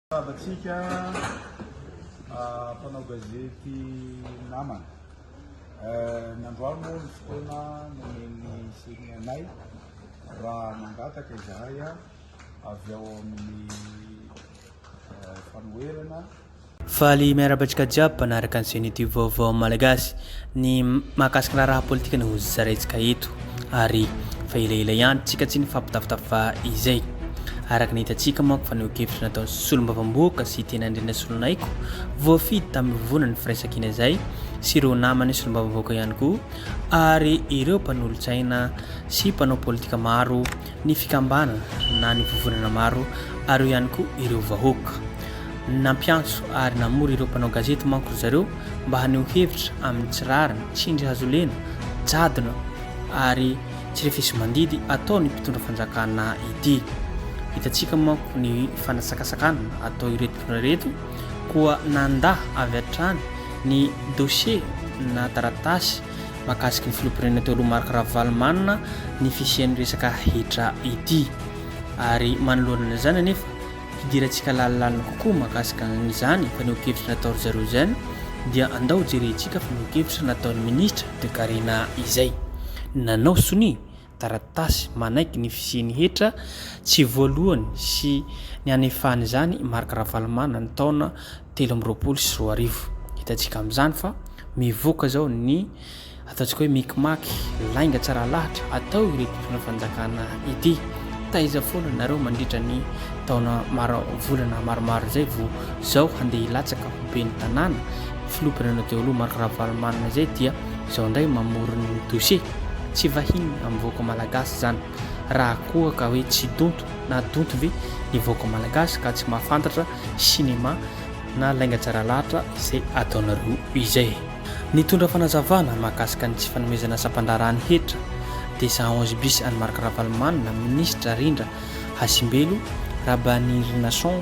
Miarabantsika mpanao gazety namana. Nandroany moa ny fotoana nomen'ny semi anay raha mangataka izahay avy ao amin'ny fanoherana Faly miarahaba antsika jiaby mpanaraka ny Ceni Tube Vaovao Malagasy. Ny mahakasika ny raharaha politika no ho zaraintsika eto. ary fa elaela ihany tsika tsy nifampitafitafa izay. Araka ny hitantsika manko fa neo-kevitra nataon'ny solombavambohoka sy tena Andriana Solonaiky voafidy tamin'ny vona ny firaisankina izay sy ireo namany solombavambohoka ihany koa ary ireo mpanolotsaina sy mpanao politika maro ny fikambanana na ny vovonana maro ary eo ihany koa ireo vahoaka. Nampiantso ary namory ireo mpanao gazety manko ry zareo mba haneho hevitra amin'ny tsy rariny, tsindry hazolena, jadona ary tsirefesimandidy ataon'ny mpitondra fanjakana ity. Hitantsika manko ny fanatsakatsakana atao ireto mpitondra ireto koa nanda avy hatrany ny dossier na taratasy mahakasiky ny filoham-pirenena teo aloha Marc Ravalomanana ny fisian'ny resaka hetra ity ary manoloana an'izany anefa hidirantsika lalilalina kokoa mahakasika an'izany fanehoan-kevitra natao ry zareo izany dia andao jerentsika fanehoan-kevitra nataon'ny ministra Toekarena izay nanao sonia taratasy manaiky ny fisian'ny hetra tsy voalohany sy ny hanefahana izany i Marc Ravalomanana taona telo amby roapolo sy roa arivo. Hitantsika amin'izany fa mivoaka izao ny ataontsika hoe mikimaky lainga tsara lahatra atao ireto mpitondra fanjakana ity. Taiza foana nareo mandritra ny taona maro volana maromaro izay vao izao handeha hilatsaka ho ben'ny tanàna filoha mpirenena teo aloha Marc Ravalomanana izay dia izao indray mamorona ny dossier? Tsy vahiny amin'ny vahoaka malagasy izany. Raha koa ka hoe tsy donto na donto ve ny vahoaka malagasy ka tsy mahafantatra cinéma na lainga tsara lahatra izay ataonareo izay. Nitondra fanazavana mahakasika ny tsy fanomezana sampan-draharahan'ny hetra dia cent onze bis an'i Marc Ravalomanana, minisitra, Rindra Hasimbelo, Rabanirinason,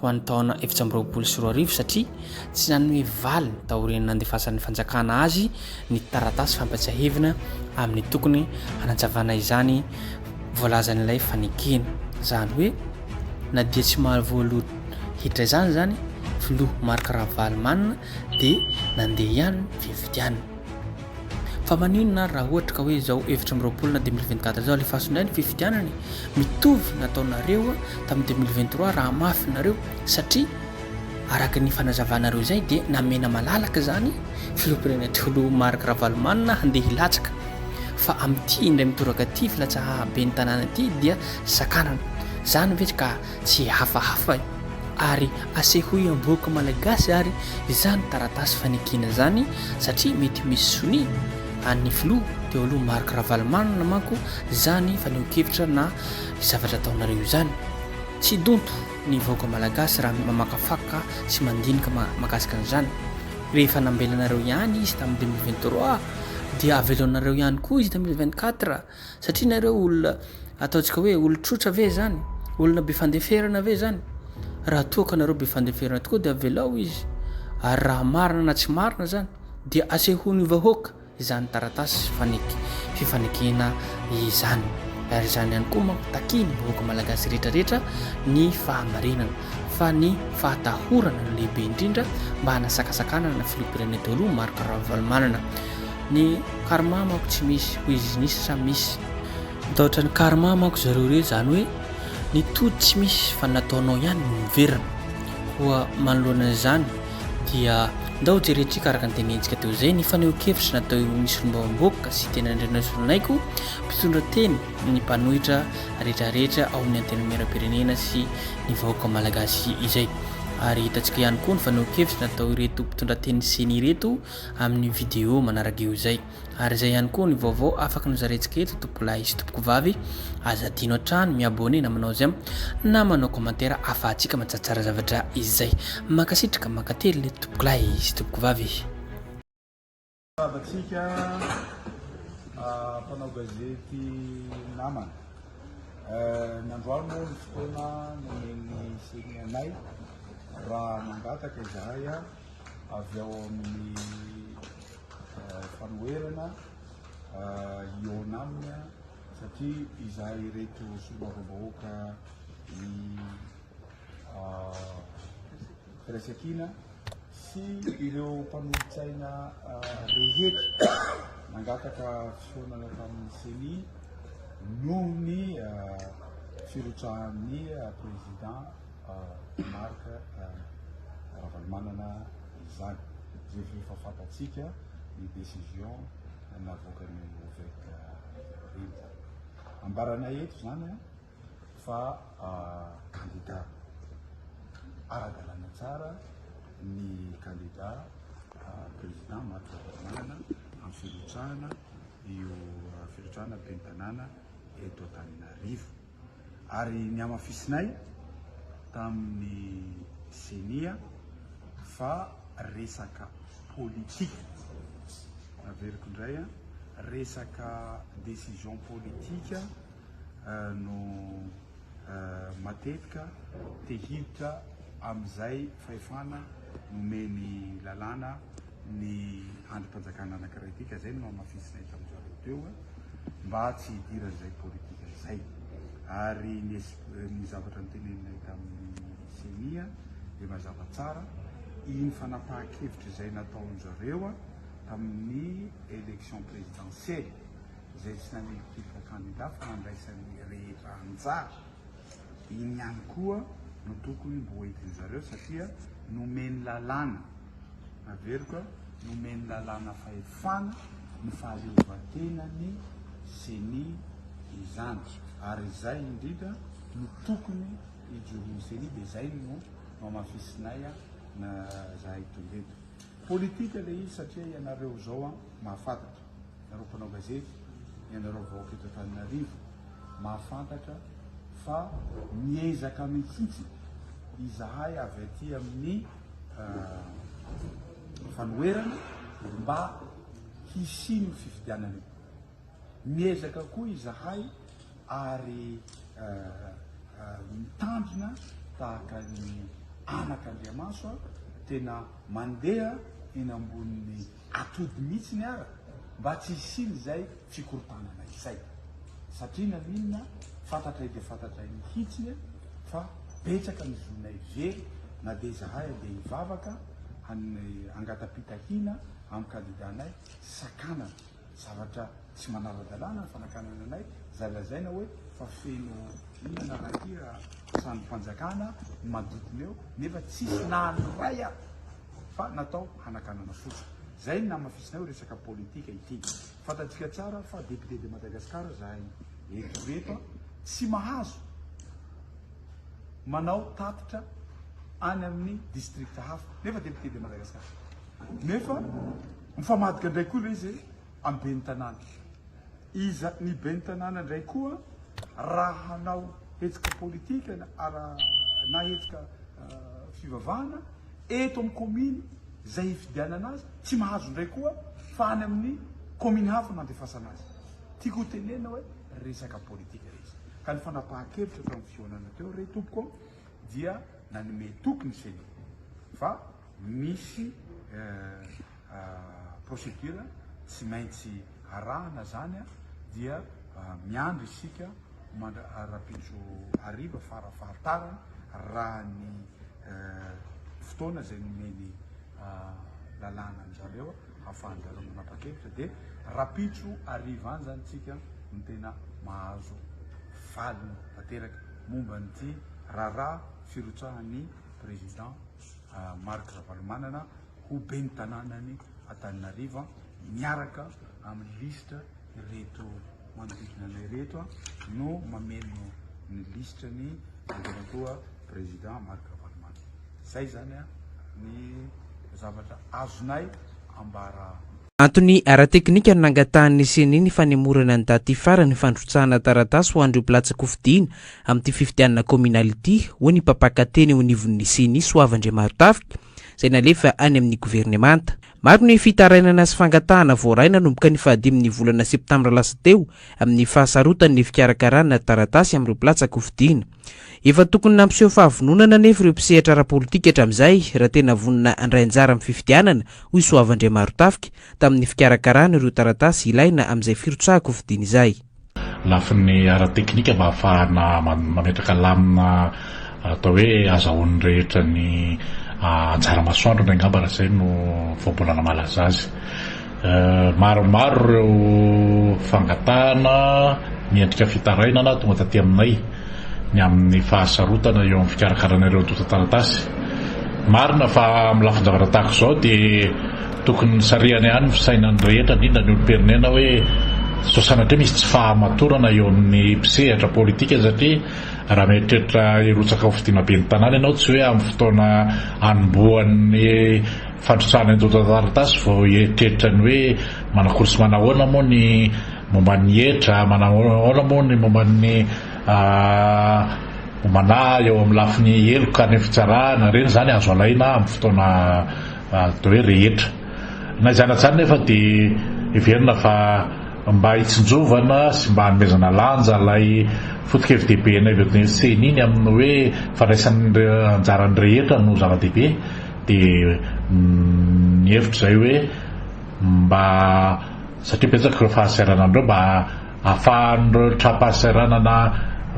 ho an'ny taona efatra amby roapolo sy roa arivo satria tsy nanome valiny taorian'ny nandefasan'ny fanjakana azy ny taratasy fampatsiahivina amin'ny tokony hanazavana izany voalazan'ilay fanekena izany hoe na dia tsy mahaly voaloha hiditra izany izany filoha Marc Ravalomanana dia nandeha ihany ny fifidianana. Fa maninona ary raha ohatra ka hoe izao efatra amby roapolo na deux mille vingt quatre izao alefaso indray ny fifidianana e? Mitovy nataonareo tamin'ny deux mille vingt trois raha mafy nareo satria araka ny fanazavanareo izay dia namena malalaka izany filoham-pirenena teo aloha Marc Ravalomanana handeha hilatsaka fa amin'ity indray mitoraka ity filatsahaben'ny tanàna ity dia sakanana. Izany ve ka Tsy hafahafa io ary asehoy amboaky malagasy ary izany taratasy fanekena izany satria mety misy sonia an'ny filoha teo aloha Marc Ravalomanana manko izany fanehoan-kevitra na zavatra ataonareo izany. Tsy donto ny vahoaka malagasy raha mamakafaka sy mandinika mahakasika an'izany. Rehefa nambelanareo ihany izy tamin'ny deux mille vingt trois dia aveloanareo ihany koa izy deux mille vingt quatre. Satria nareo olona ataontsika hoe olon-trotra ve zany? Olona be fandeferana ve zany? Raha toa ka nareo be fandeferana tokoa dia avelao izy. Ary raha marina na tsy marina zany dia asehon'ny vahoaka izany taratasy faneky fifanekena izany. Ary izany ihany koa manko takian'ny vahoaka malagasy rehetra rehetra ny fahamarinana fa ny fahatahorana no lehibe indrindra mba hanasakasakanana ny filoham-pirenena teo aloha Marc Ravalomanana. Ny karma manko tsy misy, hoy izy nisy sa misy? Mitahotra ny karma manko zareo ireo, izany hoe ny tody tsy misy fa ny nataonao ihany no miverina. Koa manoloana an'izany dia ndao jerentsika araka ny tenentsika teo izay ny fanehoan-kevitra natao eo amin'ny solombavamboaka sy teny Andrianasolonaiko mpitondra teny ny mpanohitra rehetra rehetra ao amin'ny antenimieram-pirenena sy ny vahoaka malagasy izay ary hitantsika ihany koa ny fanehoan-kevitra natao ireto mpitondra teny ceni ireto amin'ny video manaraka eo izay. Ary izay ihany koa ny vaovao afaka nozarentsika eto tompokolahy sy tompokovavy, aza adino hatrany mi-abonner namanao j'aime na manao commentaire ahafahantsika matsatsaara zavatra izay. Mankasitraka mankatelina tompokolahy sy tompokovavy. Miarahaba antsika mpanao gazety namana. Ny androany moa ny fotoana nomen'ny ceni anay raha mangataka izahay. avy ao amin'ny fanoherana hihaona aminy satria izahay ireto solombavambahoaka ny firaisankina sy ireo mpanolotsaina rehetra nangataka fihaonana tamin'ny CENI noho ny firotsahan'ny président Marc Ravalomanana izany, izay efa efa fantatsika ny décision navoakan'ny Ovec Rindra. Ambaranay eto izany fa kandida ara-dalàna tsara ny kandida président Marc Ravalomanana amin'ny firotsahana io firotsahana ben'ny tanàna eto Antananarivo. ary nihamafisinay tamin'ny ceni fa resaka politika, averiko indray an, resaka décision politika no matetika te hiditra amin'izay fahefana nomeny lalàna. ny andrim-panjakana anankiray ity ka izay no namafisinay tamin'ny zareo teo mba tsy hidiran'izay politika izay ary ny zavatra niteneninay tamin'ny CENI dia mazava tsara iny fanapahan-kevitra izay nataon'ny zareo tamin'ny élection présidentielle izay tsy nanelinkelika kandida fa nandraisan'ny rehetra anjara iny ihany koa no tokony mboentin'ny zareo satria nomeny lalàna Rabeloka, nomeny lalàna fahefana ny fahaleovantenan'ny Ceni izany ary izay indrindra no tokony hijoroan'ny Ceni dia izay no nohamafisinay an zahay tonga eto. Politika ilay izy satria ianareo izao an mahafantatra, ianareo mpanao gazety, ianareo vahoaka eto Antananarivo mahafantatra fa miezaka mihitsy izahay avy aty amin'ny. fanoherana mba hisian'ny fifidianana io. Miezaka koa izahay ary mitandrina tahaka ny anak'Andriamaso tena mandeha eny ambonin'ny atody mihitsy ny ara mba tsy hisian'izay fikorontanana izay. Satria na n'inona fantatray dia fantatray mihitsy fa betsaka ny zonay very na dia izahay handeha hivavaka hangatapitahina amin'ny kandidanay sakanana zavatra Tsy manara-dalàna ny fanakanana anay, izay lazaina hoe fa feno olana raha ity trano-panjakana madotiny eo, nefa tsisy na ny iray ary fa natao hanakanana fotsiny. Izay no namafisinay hoe resaka politika ity. Fantatsika tsara fa député de Madagascar izahay eto rehetra, tsy mahazo manao tatitra any amin'ny district hafa, nefa député de Madagascar. Nefa mifamadika indray koa ilay izy. Amin'ny ben'ny tanàna. Iza ny ben'ny tanàna indray koa raha hanao hetsika politika na hetsika fivavahana eto amin'ny kaominy izay hifidianana azy, tsy mahazo indray koa fa any amin'ny kaominy hafa no handefasana azy. Tiako ho tenenina hoe resaka politika ilay izy. Ka ny fanapahan-kevitra teo amin'ny fihaonana teo re tompoko dia nanome toky ny ceni fa misy procédure tsy maintsy arahana zany dia miandry isika rahampitso hariva fara fahatarany raha ny fotoana izay nomeny lalàna anjareo hafahanjareo manapa-kevitra dia rahampitso hariva any zany tsika no tena mahazo valiny tanteraka momba an'ity raharaha firotsahan'ny président Marc Ravalomanana ho ben'ny tanànan'i Antananarivo miaraka amin'ny lisitra ireto manodidina anay ireto no mamelona ny lisitra ny Andriamatoa Président Marc Ravalomanana. Izay izany ny zavatra azonay ambara. Antony ara-teknika ny nangatahan'ny Ceni ny fanemorana ny daty farany fandrotsahana taratasy ho an'ireo mpilatsa-kofidina amin'ity fifidianana kaominaly ity, hoy ny mpampaka teny eo anivon'ny Ceni, Soava Andriamarotafika. izay nalefa any amin'ny governemanta. Maro ny fitarainana sy fangatahana voaray nanomboka ny fahadimin'ny volana septambra lasa teo amin'ny fahasarotany ny fikarakarana taratasy amin'ireo mpilatsaka hofidiana. Efa tokony nampiseho fahavononana anefa ireo mpisehatra ara-politika hatramin'izay raha tena vonona handray anjara amin'ny fifidianana, hoy Soava Andriamarontafika, tamin'ny fikarakarana ireo taratasy ilaina amin'izay firotsahan-kofidiana izay. lafiny ara-teknika mba hahafahana mametraka lamina atao hoe azahoan'ny rehetra ny anjara masoandrony angamba raha izay no vao mbola namalaza azy. Maromaro ireo fangatahana miendrika fitarainana tonga taty aminay. ny amin'ny fahasarotana eo amin'ny fikarakarana ireo antontan-taratasy. Marina fa amin'ny lafin-javatra tahaka izao dia tokony nisarihana ihany ny fisainan'ny rehetra, indrindra ny olom-pirenena hoe sao sanatria misy tsy fahamatorana eo amin'ny mpisehatra politika satria raha mieritreritra hirotsaka ho fidiana ben'ny tanàna ianao tsy hoe amin'ny fotoana anombohan'ny fandrotsahana ny antontan-taratasy vao hieritreritra ny hoe manakory sy manahoana moa ny Momba ny hetra, manahoana moa ny momba ny homana eo amin'ny lafiny heloka ny fitsarana? Ireny izany azo alaina amin'ny fotoana atao hoe rehetra. Na izany atsany nefa dia heverina fa mba hitsinjovana sy mba hanomezana lanja ilay fotokevi-dehibenay avy amin'ny ceni ny amin'ny hoe fandraisana anjaran'ny rehetra no zava-dehibe dia mihevitra izay hoe mba satria betsaka ireo fahasahiranan'ireo mba ahafahan'ireo trampahasahiranana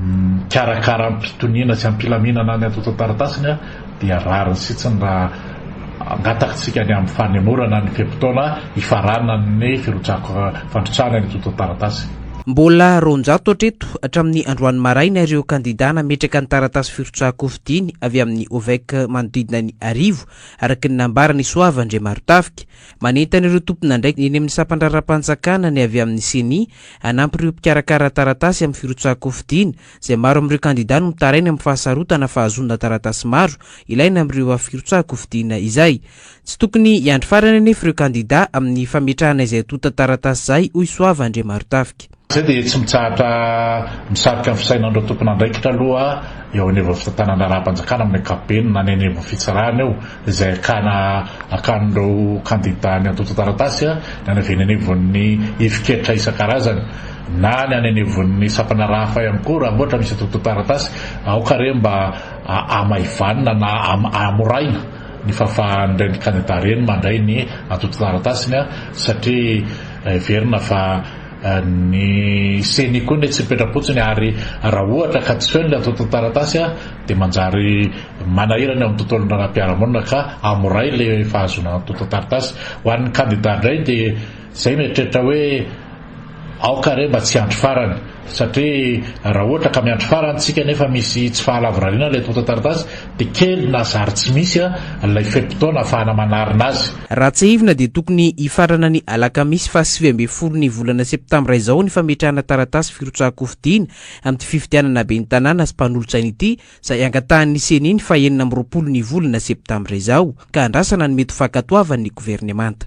mikarakara am-pitoniana sy am-pilaminana ny antontan-taratasiny dia rariny sitsiny raha angatakintsika ny amin'ny fanemorana ny fe-potoana hifaranan'ny firotsahako fandrotsahana ny antontan-taratasy. Mbola roanjato hatreto hatramin'ny androany maraina ireo kandidà nametraka ny taratasy firotsaham-pofidiny avy amin'ny OVEC manodidina ny arivo, araka ny nambaran'i Soava Andriamarotafika. Manentana ireo tompon'andraikitra eny amin'ny sampan-draharaham-panjakana ny avy amin'ny Ceni hanampy ireo mpikarakara taratasy amin'ny firotsahan-kofidina, izay maro amin'ireo kandidà no mitaraina amin'ny fahasarotana fahazoana taratasy maro ilaina amin'ireo firotsahan-kofidina izay. Tsy tokony hiandry farany anefa ireo kandidà amin'ny fametrahana izay tontan-taratasy izay, hoy Soava Andriamarotafika. Izay dia tsy mitsahatra misarika ny fisainan'ireo tompon'andraikitra aloha eo anivon'ny fitantanandraharaham-panjakana amin'ny ankapobeny na ny any anivon'ny fitsarana eo izay akana akan'ireo kandida ny antontan-taratasy na ny avy eny anivon'ny ifik'hetra isan-karazany na ny any anivon'ny sampana rahafa ihany koa raha ohatra misy antontan-taratasy aoka re mba hamaivanina na hamoraina ny fahafahan'ireny kandida ireny mandray ny antontan-taratasiny satria heverina fa Ny ceni koa anie tsy mipetra-potsiny ary raha ohatra ka tsy feno ilay antontan-taratasy dia manjary manahirana eo amin'ny tontolon'ny raharaham-piarahamonina ka hamoray ilay fahazoana antontan-taratasy. Ho an'ny kandida indray dia izay mieritreritra hoe aoka re mba tsy hiandry farany satria raha ohatra ka miandry farany isika nefa misy tsy fahalavorariana ilay antontan-taratasy Dia kely na zary tsy misy ilay fe-potoana afahana manarina azy. Raha tsiahivina dia tokony hifarana ny alakamisy faha sivy ambin'ny folo ny volana septambra izao ny fametrahana taratasy firotsahan-kofidiana amin'ity fifidianana ben'ny tanàna sy mpanolotsaina ity izay angatahan'ny ceni ny faha enina amby roapolo ny volana septambra izao ka andrasana ny mety ho fankatoavan'ny governemanta.